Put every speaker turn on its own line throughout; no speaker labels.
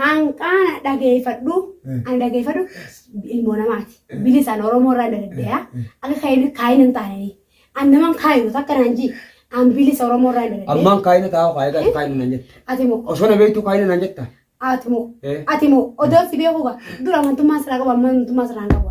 Hanqaana dhageeffadhu ani dhageeffadhu ilmoo namaati. Bilisaan Oromoo irraa dadaddeeya. Akka kaayina kaayina hin taane. An naman kaayinu takka naan ji. An bilisa Oromoo irraa dadaddeeya. Ammaan kaayina taa'u kaayina
taa'u kaayina naan jetta. Ati moo Osoo na beektu
kaayina naan
jetta. ati moo Eh. ati
moo odoo si beekuuga dura amantummaan siraa qabu amma amantummaa siraa hin qabu.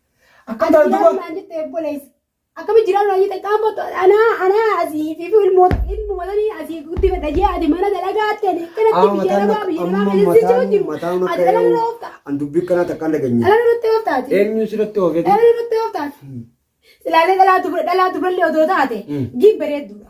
Akkamitti Akkana
jiraan duba naan jette obboleessa.
Akkamitti jiraan naan jette qaama to- anaa anaa asii fi ilmoota ilmuma sanii asii guddifadha jee ati mana dalagaa ati ani kanatti Amma biyya mataan namaa biyya namaa amma keessa jechuu mataan jiru. mataan Ati akka dhala nurra oofta. an dubbii kanaa takka hin
dhageenye. Dhala nurratti oofta ati.
Eenyu sirratti oofee?
Dhala nurratti oofta
ati. Silaalee dhalaa dubra dhalaa dubrallee odoo taate Mm. gin bareedduudha.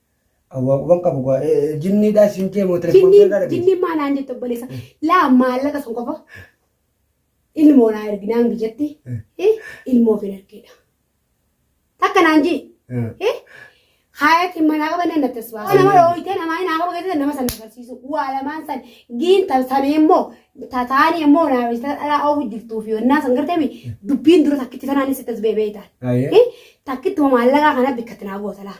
Awwaa
quban qabu gaa jinniidhaa siin jee moo telefoon Jinniin keerraa jinniin maa naan jette
obboleessa laa maallaqa sun qofa ilmoo naa ergi naan biyyatti eh, ilmoo fi ergeedha. Takka naan jii eh, haayat hin manaa qabanne natti as baasu. Nama dhooyitee namaa hin haaqabu keessatti nama sana agarsiisu waa lamaan san giin tan samee immoo tataanii immoo naa biyyatti dhalaa oofu jirtuu fi onnaa san gartee dubbiin dura takkitti tanaan sitti as beebee taate. Ayyee. Eh, Takkittuma maallaqaa kana bikkatti naa goota laa.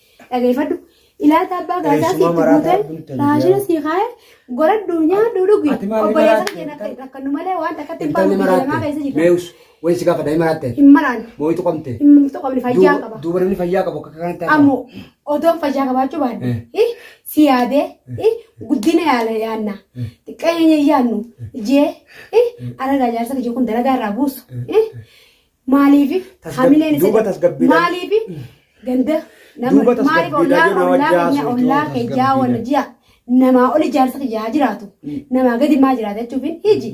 dhageeffadhu ilaalta abbaa gaasaa siif guutee raashina sii kaa'e goradhu nyaadhu dhugi obboleessan keenya akka nu malee waan takkatti hin baanu biyya lamaa keessa jirra. Meewus wayii si gaafadha
hin maraatte. Hin maraanne. Mooyitu
qabte. Hin
qabne fayyaa
qaba. Duuba namni fayyaa qabu akka
kanatti hafa. Ammoo odoon
fayyaa qabaachuu baadde si yaadee guddina yaala yaanna xiqqeenya yaannu jee aragaa jaarsa kiyya kun dalagaa irraa buusu Maaliif Tasgab- hamileen isa duuba tasgabbiidhaan- maaliif ganda nama Duuba maaliif tasgabbiidhaan ollaa yoo nama ollaa jaasuu keenya ollaa itti keenya tasgabbiidhaan. wal ji'a namaa oli jaarsa kiyya haa jiraatu namaa gadi maa jiraata jechuuf hin hiji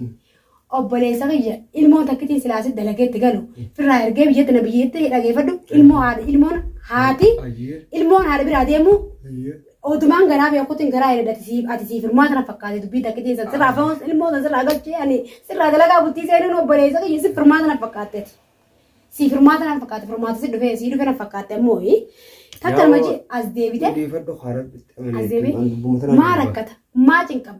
obboleessa kiyya ilmoon takkitiin silaasi dalageetti galu firraa ergee biyyatti na biyyeetti dhageeffadhu ilmoo haadha ilmoon haati Ayyee. ilmoon haadha biraa deemu Ayyee. Odumaan garaa beekuutiin garaa hin edati siif ati siif hirmaata na fakkaate dubbii takkitiin san sirraa fa'oos ilmoo san sirraa galchee ani sirraa dalagaa bultii seenuun obboleessa kiyya siif hirmaata na fakkaatte ati. Siif hirmaata na fakkaatte hirmaata si dhufee sii dhufee na fakkaatte ammoo takka nama ji as deebite. Odeeffadhu haa rabbiste. As deebite maa rakkata maa cinqama.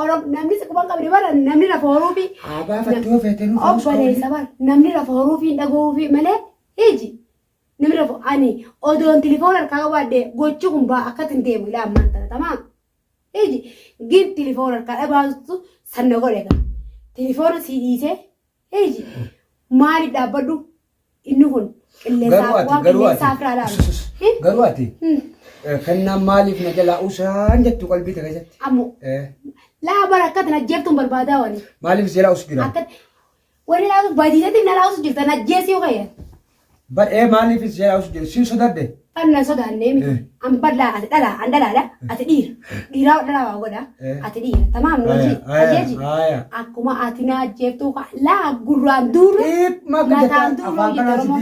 Orom namni si quban qabdi bara namni lafa horuu fi Aabaa fattoo feetee nu faarus obboleessa bara namni lafa horuu fi dhagahuu fi malee iji namni lafa ani odoon tilifoon harkaa qabaadde gochi kun baa akka ittiin deemu ilaa ammaan tana tamaa iji gin tilifoon harkaa dhabaastu sanna godhe gaa tilifoona sii dhiisee Eeji maaliif dhaabbadhu inni kun qilleensaa waan qilleensaa firaa laalu. Garuu ati
kennaan maaliif na jalaa usaan jettu qalbii ta'e keessatti. Ammoo
laa bara akkatti na jeeftuun barbaadaa wani. Maaliif si jalaa usu jira?
Akkatti
wani laa badiisatti na laa usu jirta na jeessi yoo ka'e. Bar ee
maaliif is jalaa usu jedhe sin sodadhe. An nan sodaannee
miti. An bal'aa ati dhalaa an dhalaadha ati dhiira. Dhiiraa ol dhalaa waa godha ati dhiira. Tamaam nu hojii ajjeeji. Akkuma ati na ajjeeftuu kaa laa gurraan duulu mataan duulu hojjete Oromoo.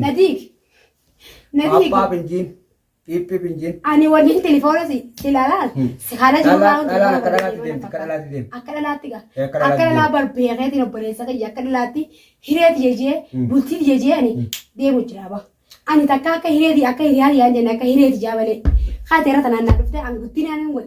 Na diigi. Na
diigi. Appaap hin jiin. Piip piip hin jeen. Ani waliin telefoona
si ilalaan Hmm. si haala jiru Dhalaa- waan dhalaa akka dhalaatti deemti, akka dhalaatti deemti. Akka dhalaatti gaa. Ee, akka Akka dhalaatti dhalaa barbeekeetiin obboleessa kiyya akka dhalaatti hireeti jejee Hmm. bultiiti jejee ani deemu jira ba. Ani takka akka hireeti akka hiriyaan yaan jenne akka hireeti jaa malee. Haati irra tanaan naa dhufte an guddinaan hin wal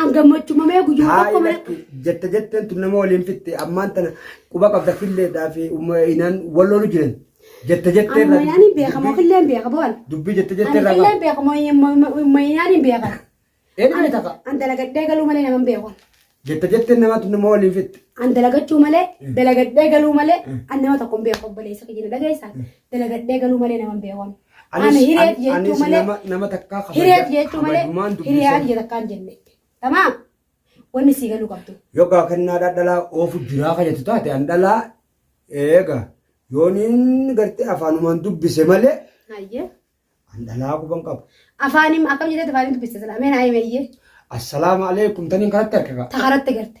An gammachuu mamee guyyuma Haa tokko mana ilatti jette jetteen tun
nama waliin fitte ammaan tana quba qabda filleedhaa fi umma inaan wal loolu jiran jette jettee amma irraa yaani beeka
moo killee hin beeka boon. dubbii jette Ani jettee irraa
killee hin beeka moo yaani
hin beeka. Eedhuma ni taqa
An dalagadhee galuu
malee nama hin beeku. jette jetteen namaa
tun nama waliin fitte An dalagachuu malee
dalagadhee galuu malee an nama tokko hin beeku obboleessa kiyya na dhageessaa dalagadhee galuu malee nama hin beeku. Ani hireef jechuu malee nama takkaa hireef
jechuu malee
hiriyaa kiyya takkaa hin jenne. Tamaa wanni sii galuu qabdu. Yoo gaa kennaa dhadhalaa
oofu jiraa kajatu taate an dhalaa eega yooniin gartee afaanumaan dubbise malee Hayyee.
an dhalaa
quban qabu. Afaanim akkam jedhee
afaaniin dubbiste sana ameen ayi meeyyee Assalaamu
alaikum taniin kanatti harkaka. ta karatti garte.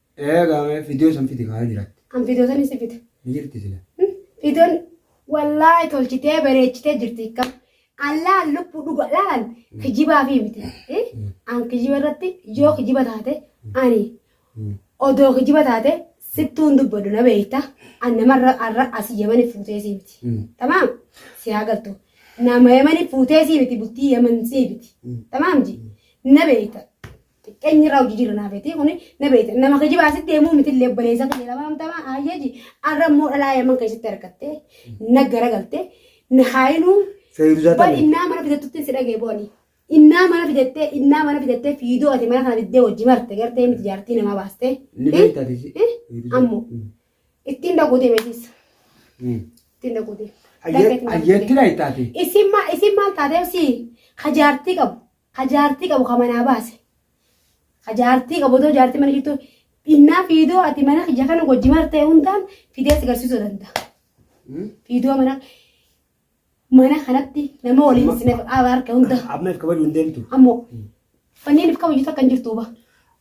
Ee gaamee
fidiyoo san fidi kaa jiraatti. An fidoo san isi fide.
Ni jirti sila.
Fidoon
wallaahi tolchitee bareechitee jirti ikka. Allaan lubbuu dhuga laalan kijibaa fi miti. An kijiba irratti yoo kijiba taate ani odoo kijiba taate sittuun dubbadhu na beekta. An namarra arra asii yamani fuutee sii miti. Tamaam si haa galtu. Nama yamani fuutee sii miti bultii yaman sii miti. Tamaam ji na beekta. xiqqeenyi irraa hojii jirra naa beetii kuni na beekte nama kijibaa sitti himuu miti illee obboleessa kiyya lama amtama ayyaji arra immoo dhalaa yaman keessatti argatte na garagalte na haayinuu Feeruuzaa bal tana. innaa mana fidattutti si dhagee booni innaa mana fidattee innaa mana fidattee fiidoo ati mana kana diddee wajji marte gartee miti jaartii namaa baaste Ni beektaa tisi. Eh?
ammoo
ittiin dhaquu deemetiis ittiin dhaquu deem Ayyeetti
beektaa tisi. isin maal isin maal
taatee si hajaartii qabu Ka jaartii qabu ka manaa baase. Ka jaartii qabu otoo jaartii mana jirtu dhinnaa fiidoo ati mana kiyya kana wajji martee hundaan fidee si garsiisuu danda'a. Hmm? Fiidoo mana mana kanatti nama waliin Amma- isin abaarke hunda Amma if kabaju hin deemtu.
ammoo
fanniin if kabaju takka hin jirtu ba.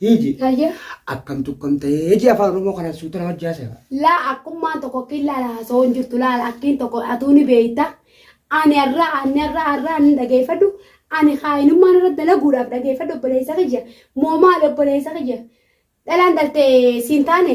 Hiiji. Hayyee. Akkam
tukkam
ta'ee hiji afaan Oromoo kana suuta nama jaasa. Laa akkummaan
tokko akkiin laala haasawoo hin jirtu laala akkiin tokko atuu ni beeyta. Ani har'a ani har'a har'a ani dhageeffadhu ani kaayinummaan irra dalaguudhaaf dhageeffadhu obboleessa kiyya moo maali obboleessa kiyya dhalaan dhaltee siin taane